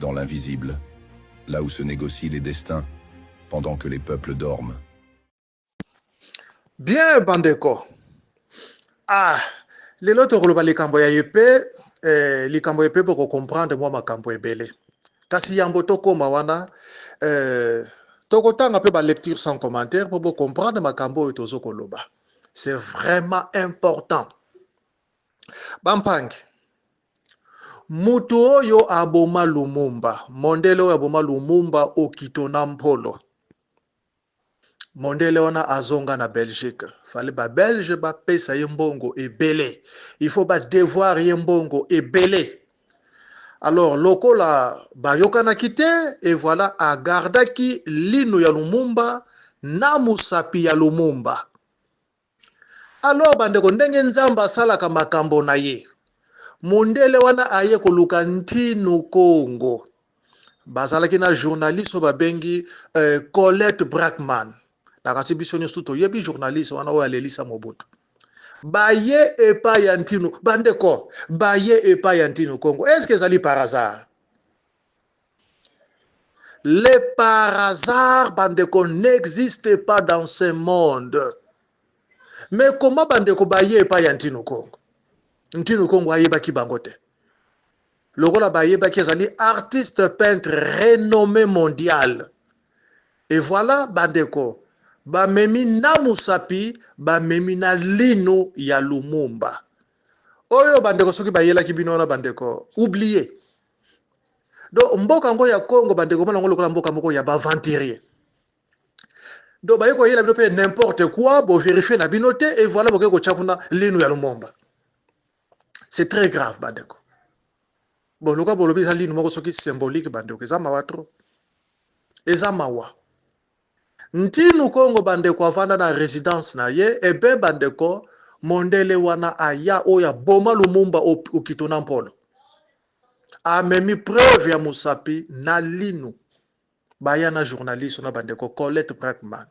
dans l'invisible, là où se négocient les destins, pendant que les peuples dorment. Bien, bandeko. Ah, lelo tokoloba likambo ya epe, eh, likambo epe boko comprendre mwa makambo ebele. Kasi yambo tokoma wana, eh, tokotanga pe ba lecture sans commentaire po bo comprendre makambo oyo tozo koloba. C'est vraiment important. Bampangi. Mutu oyo aboma Lumumba, mondele oyo aboma Lumumba, Okito na Mpolo, mondele wana azonga na Belgique. Fallait ba Belge ba pesa ye mbongo ebele, il faut ba devoir ye mbongo ebele. Alors lokola bayokanaki te, et voilà agardaki lino ya Lumumba na musapi ya Lumumba. Alors bandeko ndenge nzambe asalaka makambo na ye mondele wana aye koluka ntino congo bazalaki na journaliste oyo babengi uh, colette brackman na kasi biso nyonso toyebi journaliste wana oyo alelisa mobutu baye epai ya ntino bandeko baye epai ya ntino congo eske ezali par hasard Le par hasard bandeko n'existe pas dans ce monde mais comment bandeko baye epai ya ntino kongo ntino kongo ayebaki bango te lokola bayebaki ezali artiste peintre renommé mondial et voilà bandeko bamemi na musapi bamemi na lino ya lumumba oyo bandeko soki bayelaki bino wana bandeko oublie donc mboka yango ya congo bandeko mona yango lokola mboka moko ya baaventurier donc baye koyela bino mpe n'importe quoi boverifie na bino te et voilà bokoki kotya kuna linu ya lumumba c'est très grave bandeko bon lokola bolobi eza linu moko soki symbolique bandeko eza mawa trop eza mawa Ntinu kongo bandeko avanda na residence na ye et bien bandeko mondele wana aya oyo aboma lumumba au okito na mpolo amemi preuve ya musapi na linu baya na journaliste na bandeko colette brackman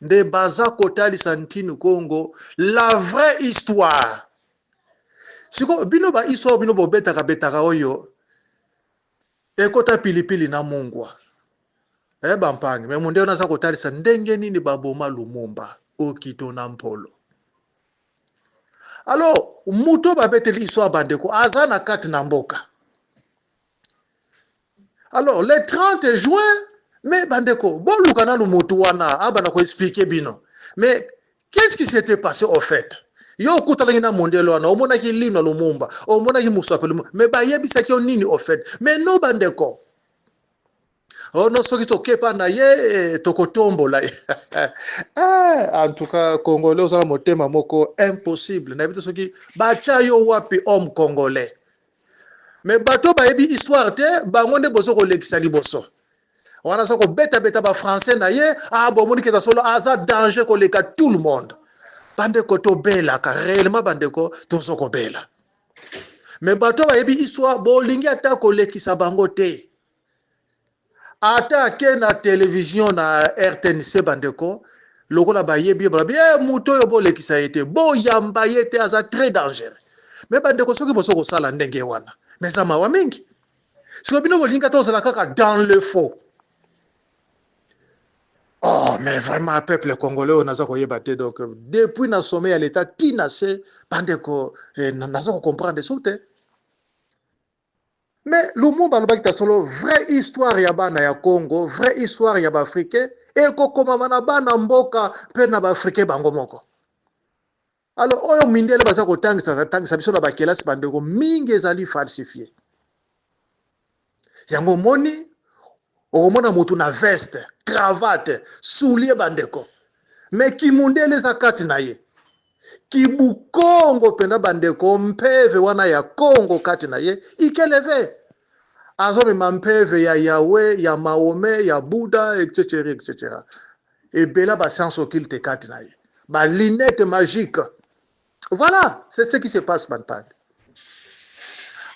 nde baza kotalisa ntinu kongo la vraie histoire siko bino ba histoire bino bobetaka betaka oyo Ekota pilipili na mungwa. Eh ba mpangi, mais mundele naza kotalisa ndenge nini ba boma Lumumba, Okito na Mpolo. Alors, muto ba beteli histoire bandeko, aza na kati na mboka. Alors, le 30 juin, mais bandeko, boluka nanu mutu wana, abana ko expliquer bino. Mais, Qu'est-ce qui s'était passé au fait? Yo okutanaki na mondele wana, omonaki lino ya Lumumba, omonaki mosapi Lumumba, mais bayebisaki yo nini au fait? Mais no bandeko, oh no soki tokepa na ye tokotombola ye eh, en tout cas congolais oza na motema moko impossible. Nayebi te soki batya yo wapi homme congolais, mais bato bayebi histoire te, bango nde bozo kolekisa liboso. wana aza kobetabeta bafrançais na ye ah, bomoni keta solo aza danger koleka tout le monde bandeko tobelaka réellement bandeko tozo kobela me bato oyo bayebi histoire bolingi ata kolekisa bango te ata ake na televizio na rtnc bandeko lokola bayebi ye balobi e moto oyo bolekisa ye te boyamba ye te aza très dangereux me bandeko soki boso kosala ndenge wana me eza mawa mingi sikoyo bino bolinga tozala kaka dans le faux oh mais vraiment peuple congolais oyo naza koyeba te donc depuis na sommet ya leta ti na se bandeko eh, naza kocomprendre so te mais lumumba alobaki ta solo vraie histoire ya bana ya congo vraie histoire ya baafricain ekokomama na bana mboka mpe na baafricain bango moko Alors oyo mindele baza kotangisa tangisa biso na bakelasi bandeko mingi ezali falsifie. Yango omoni okomona motu na veste cravate soulie bandeko me kimundele eza kati na ye kibukongo mpenza bandeko mpeve wana ya kongo kati na ye ikeleve azomema mpeve ya yawe ya maome ya buda etc etc Ebela ba sciences occultes kati na ye. Ba lunettes magiques. Voilà, c'est ce qui se passe Bantangi.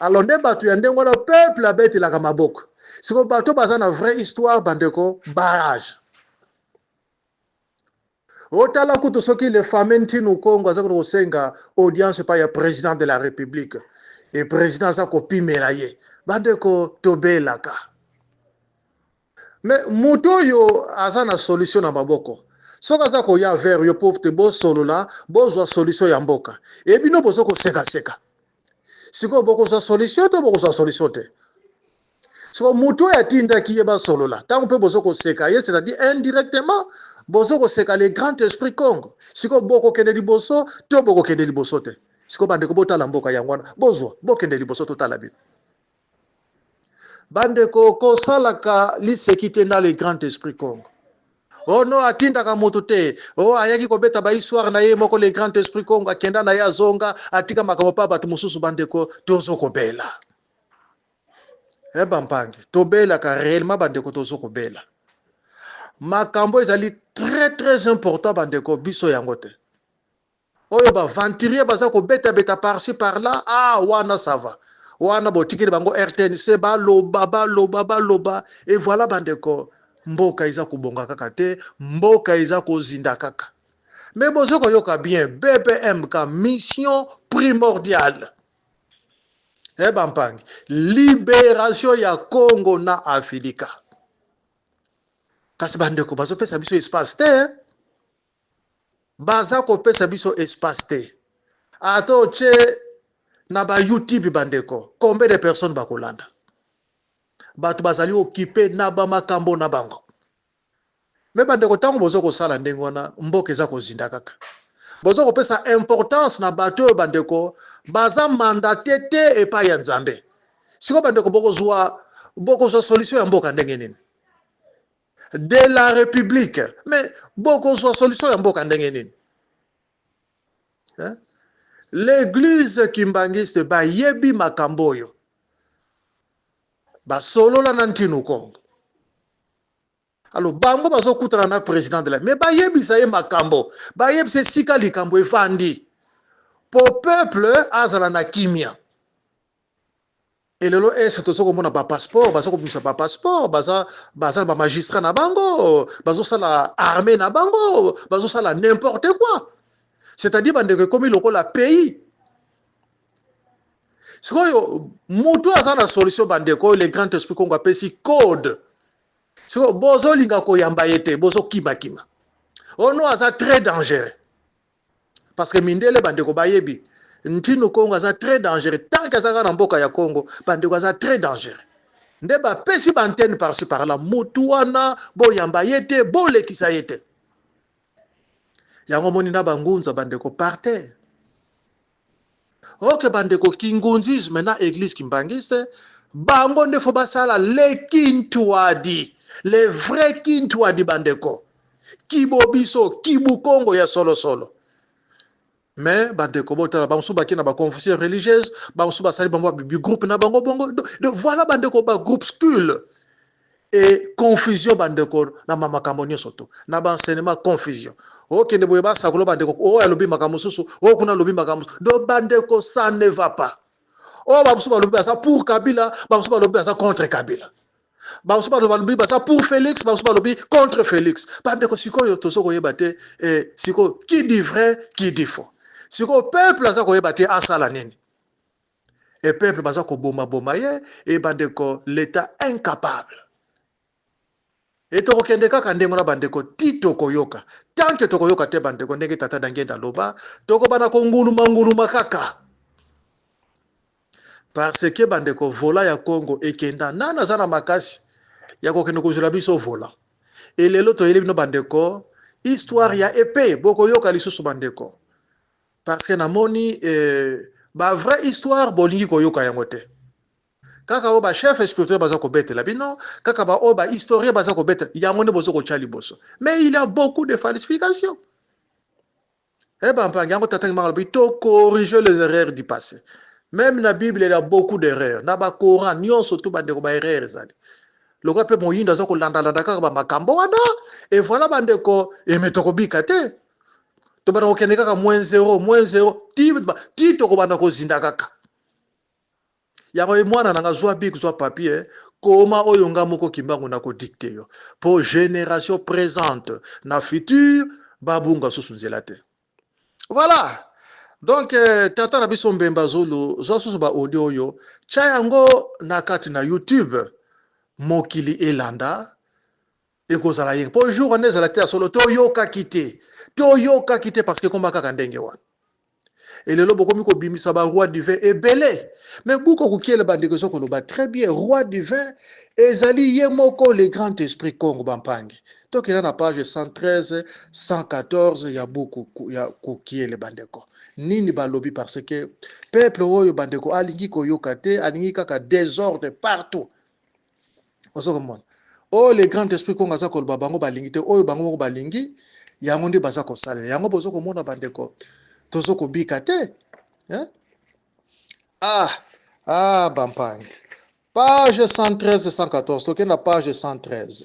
Alors nde bato ya ndenge wana peuple abetelaka maboko. Siko bato baza na vraie histoire bandeko barrage. otala kutu soki le fameux ntinu kongo aza kutu kosenga audience epai ya président de la république e président aza kopimela ye bandeko tobelaka Mais moto oyo aza na solution na maboko soki aza koya vers yo po te bosolola bozwa solution ya mboka e bino bozo koseka seka sikoyo bokozwa solution to bokozwa solution te sikoyo moto oyo atindaki ye basolola ntango mpe bozo koseka ye c'est-à-dire indirectement bozo koseka le grand esprit congo sikoyo bokokende liboso to bokokende liboso te sikoyo bandeko botala mboka yango wana bozwa bokende liboso totala bino bandeko kosalaka liseki te na le grand esprit congo o oh no atindaka moto te o oh, ayaki kobeta bahistoire na ye moko le grand esprit congo akenda na ye azonga atika makambo mpa bato mosusu bandeko tozo kobela e eh, bampangi tobelaka réellement bandeko tozo kobela makambo ezali très très important bandeko biso yango te Oyo ba venturier baza ko beta beta par ci par là ah wana ça va wana botikeli bango rtnc baloba baloba baloba et voilà bandeko mboka eza kobonga kaka te mboka eza kozinda kaka me bozo koyoka bien bpmk mission primordiale e eh, bampangi liberation ya congo na afilika kasi bandeko bazopesa biso espace te eh? Baza kopesa biso espace te ata otie na ba youtube bandeko combien de personnes bakolanda bato bazali okipe na bamakambo na bango me bandeko ntango boza kosala ndenge wana mboka eza kozinda kaka boza kopesa importance na bato oyo bandeko baza mandate te epai ya nzambe sikoyo bandeko bokozwa bokozwa solution ya mboka ndenge nini de la republique mais bokozwa solution ya mboka ndenge nini l'église kimbanguiste bayebi makambo oyo basolola na ntino kongo alo bango bazokutana na president de la me bayebisa ye makambo bayebisa esika likambo efandi po peuple azala na kimia Et lelo est tozo komona ba passeport baza kobimisa ba passeport baza baza ba magistrat na bango bazo sala armée na bango bazo sala n'importe quoi c'est-à-dire bandeko ekomi lokola pays sikoyo mutu aza na solution bandeko le grand esprit kongo apesi code sikoyo bozolinga koyamba ye te bozokima kima ono aza très dangereux parce que mindele bandeko bayebi ntinu congo aza très dangereux tant que azaka na mboka ya congo bandeko aza très dangereux nde bapesi baantenne parci par là mutu wana boyamba ye te bolekisa ye te yango omoni na bangunza bandeko par terre Ok ba ndeko kingunzisme na eglise kimbanguiste bango nde faut basala le kintuadi le vrai kintuadi ba ndeko kibobiso kibukongo ya solo solo mais bandeko botala bango mosusu bakei na baconfusion religieuse bango mosusu basali bango bigroupe na bango bongo donc voilà bandeko bagroupescule e confusion bandeko na makambo nyonso to na ba enseignement confusion okende boye basakola bandeko oyo alobi makambo mosusu oyo kuna alobi makambo mosusu do bandeko ça ne va pas oyo bamosusu balobi baza pour kabila bamosusu balobi baza contre kabila bamosusu balobi baza pour félix bamosusu balobi contre félix bandeko sikoyo tozo koyeba te eh, sikoyo qui dit vrai qui dit faux sikoyo peuple aza koyeba te asala nini et peuple baza koboma boma ye et bandeko l'etat incapable et tokokende kaka ndenge wana bandeko ti tokoyoka tant que tokoyoka te bandeko ndenge tata na ngenda aloba tokobana konguluma nguluma kaka parce que bandeko vola ya congo ekenda nani aza na makasi ya kokende kozwela biso vola elelo toyeli bino bandeko histoire ya epe bokoyoka lisusu bandeko Parce que namoni euh, ba vraie histoire bolingi koyoka yango te kaka oyo bachef spirituel baza kobetela bino kaka baoyo bahistorien baza kobetela yango nde bozo kotya liboso mais il y a beaucoup de falsification e eh bampangi yango tatangi maka lobi to corriger les erreurs du passé meme na bible il y a beaucoup d'erreurs na bacoran nyonso tu bandeko baerreur ezali lokola mpe moyindo aza kolandalanda kaka bamakambo wana e voilà bandeko emetokobika te tobanda kokende kaka moins zero moins zero ti tokobanda kozinda kaka yango ye mwana na nga zwa bik zwa papier koma oyo nga moko kimbangu nakodikte yo mpo génération présente na future babunga susu nzela te voilà donc euh, tata na biso mbemba zulu zwa susu baaudio oyo tya yango na kati na youtube mokili elanda ekozala ye po jour wana ezala te ya solo to yoka kite to yoka kite parce que komba kaka ndenge wana et lelo bokomi kobimisa ba roi du vin ebele mais buko kokiele bandeko ezo koloba très bien roi du vin ezali ye moko le grand esprit congo bampangi tokenda na page 113 114 ya buku ya kokiele bandeko nini balobi parce que peuple oyo bandeko alingi koyoka te alingi kaka desordre partout ozo komona oyo le grand esprit kongo aza koloba bango balingi te oyo bango moko balingi yango nde baza kosalela yango bozo komona bandeko tozo kobika te eh? ah ah bampangi page 113 114 tokenda page 113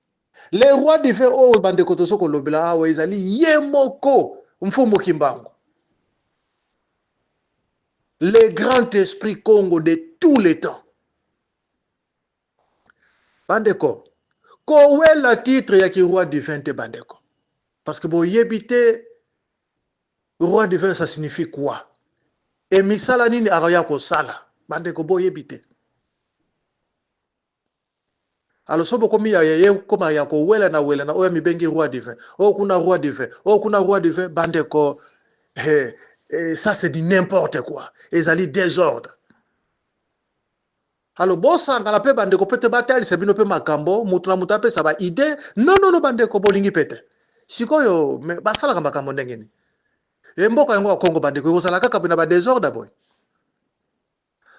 Le roi du feu oyo bandeko tozo kolobela awa ezali ye moko Mfumu Kimbangu. Le grand esprit Congo de tous les temps. Bandeko, kowela titre ya ki roi du vin te bandeko. Parce que boyebi te roi du vin ça signifie quoi? Et misala nini akoya kosala? Bandeko boyebi te. Psst alors soki bokomi ya ya koma ya ko welana welana oyo amibengi roi du vin oyo kuna roi du vin oyo kuna roi du vin bandeko he eh, ça c'est du n'importe quoi ezali desordre alo bosangana mpe bandeko mpe te batalisa bino mpe makambo moto na moto apesa ba idee nonono bandeko bolingi mpe te sikoyo basalaka makambo ndenge nini e mboka yango ya kongo bandeko ekozala kaka na badesordre boye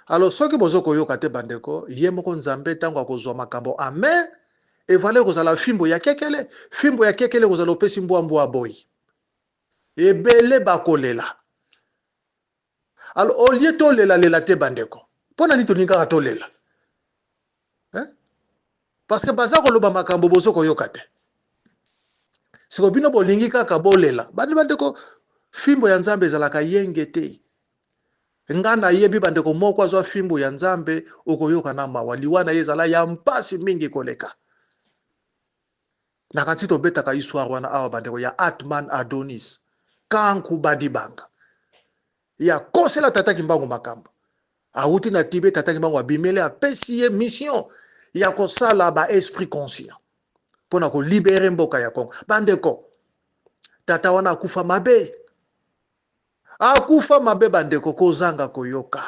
Alors soki bozo koyoka te ba ndeko, ye moko Nzambe tango akozua makambo en main, evala ekozala fimbu ya kekele, fimbu ya kekele ekozala opesi mbwa mbwa aboyi. Ebele bakolela. Alors au lieu tolela lela te ba ndeko. Pona nini tolingi kaka tolela? Hein? Parce que baza koloba makambo bozo koyoka te. Siko bino bolingi kaka bolela. Bandi ba ndeko, fimbo ya Nzambe ezalaka yenge te. Nga na yebi bandeko moko azwa fimbu ya nzambe okoyoka na mawa liwa na ye ezala ya mpasi mingi koleka na kanti tobetaka histoire wana awa bandeko ya atman adonis kanku badibanga ya kosela tata kimbangu makambo awuti na tibe tata kimbangu abimeli apesi ye mission ya kosala ba esprit conscient mpo na kolibere mboka ya congo bandeko tata wana akufa mabe Akufa mabe bandeko kozanga koyoka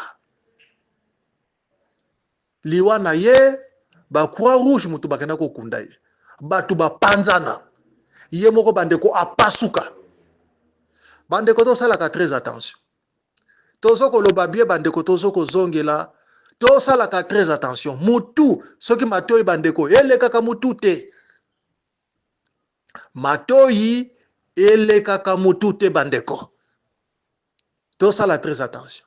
liwa na ye ba croix rouge moto bakenda kokunda ye bato bapanzana ye moko bandeko apasuka bandeko tosalaka très attention tozo koloba bie bandeko tozo kozongela tosalaka très attention mutu soki matoyi bandeko elekaka mutu te matoyi elekaka mutu te bandeko tosala très attention